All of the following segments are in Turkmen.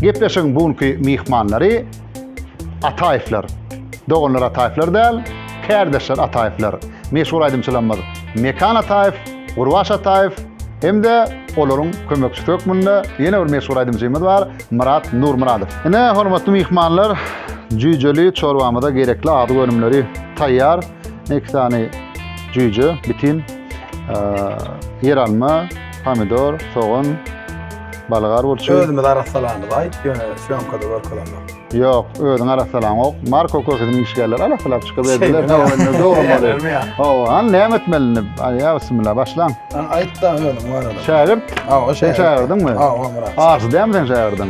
Gepleşigiň bu günki myhmanlary Ataýewler. Doganlar Ataýewler däl, kärdeşler Ataýewler. Meşhur aýdymçylarymyz Mekan Ataýew, Gurbaş Ataýew hem-de olaryň kömekçisi hökmünde ýene bir meşhur aýdymçymyz bar, Myrat Nurmyradow. Ine, hormatly myhmanlar, jüýjeli çorbamyza gerekli azyk önümleri taýýar. Iki sany jüýje, bitin, ýeralma, Pomidor, sogan, balgar burçy. Özümiz arassalamyz aýt, ýöne sýomkada görkezemok. Ýok, özüň arassalaňok. Marko köküniň işgärleri arassalap çykyp ediler. Şeýdip, Hawa, indi dogry bolýar. Ýerlermi ýa? Hawa, hany näme etmelini? Aý, ýa bismillah, başlaň. Hany aýt-da özüň barada. Şägirt? Hawa, Sen şägirt. şägirdiňmi? Hawa, Myrat. Arsy dälmi seň şägirdiň?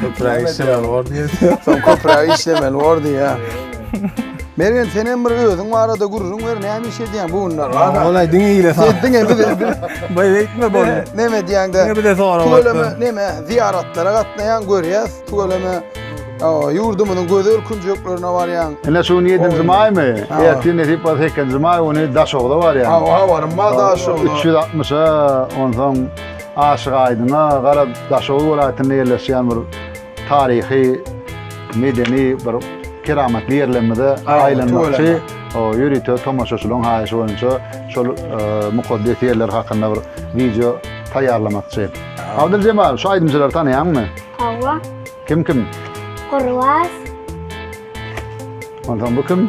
Köpräk işlemeli bor diýýär. Soň köpräk işlemeli bor diýýär. Mergen sen hem bir özüň barada gürrüň ber, näme iş edýäň bu günler? Olay diňe ile sag. Sen diňe bir Bay weytme bol. Näme edýäň de? Diňe bir de soraw. Tüweleme näme? Zyýaratlara gatnaýaň, görýäs. Tüweleme ýurdumyzyň gözel künjeklerine barýaň. Ine şu gün 7-nji maýmy? Ertir nesip bolsa 8-nji maý güni Daşogda barýaň. Hawa, habarym bar Daşogda. 360-a, onsoň Aşyk Aýdyna gara Daşoguz welaýatynda ýerleşýän bir taryhy medeni bir keramatly ýerlerimize aýlanmakçy ýörite tomaşaçylaryň haýyşy boýunça şol mukaddes ýerler hakynda bir wideo taýýarlamakçy. Abdyljemal şu aýdymçylary tanaýaňmy? Hawa. Kim kim? Gurbaz. Onsoň bu kim?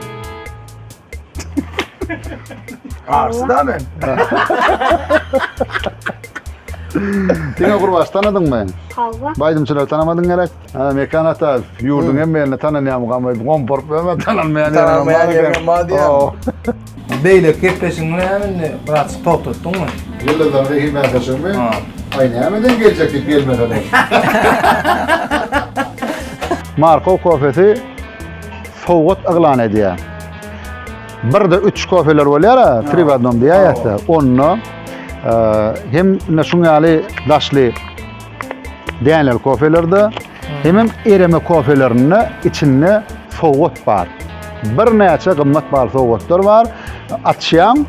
Arsda men. Diňe gurbaş tanadyň men. Hava. Baýdymçylar tanamadyň gerek. Ha, Mekan ata, ýurduň hem meni tananýam gamy, gomporup ömür tananmaýan ýerine Tananmaýan bar ýerine bar diýýär. Oo. Beýle gepleşigiň näme indi biraz togtatdyňmy? Ýyldyzlar zehin mätäçligimi? Ha. Aý nämeden geljek diýip gelmeseler. Markow kofesi sowgat yglan edýär. Birde üç kofeler bolýar, tri w adnom diýýärse, onda e, hem ine şuň ýaly daşly däneli kofelerde hem hem ereme kofelerinde içinde sowgat bar. Bir näçe gymmat bar sowgatlar bar. Açýaň,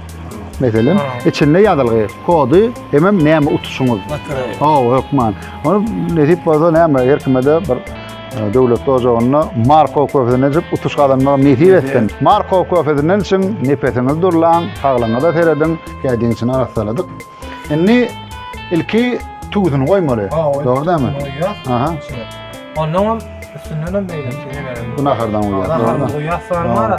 meselem, içinde ýazylgy, kody hem hem näme utuşyňyz. Hawa, hökman. Ony nesip bolsa näme, her kime bir Döwletli ojagynda Markow köfesini içip utuş gazanmagy nesip etsin. Markow köfesinden içiň, nepesiňizi durlaň, saglygyňyza serediň. Kädiň içini arassaladyk. Indi ilki tüwüsini goýmaly. Dogry dämi? Aha. Ondan hem üstünden hem meýlemişe bereli. Bu nahardan goýýar. Nahardan goýýar, soňra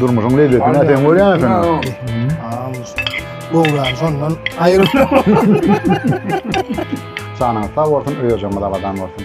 Durmuşyň lezzetini sen görýän sen. Gowran şondan aýryp. Janyňyz sag bolsun, öýerjemiz abadan bolsun.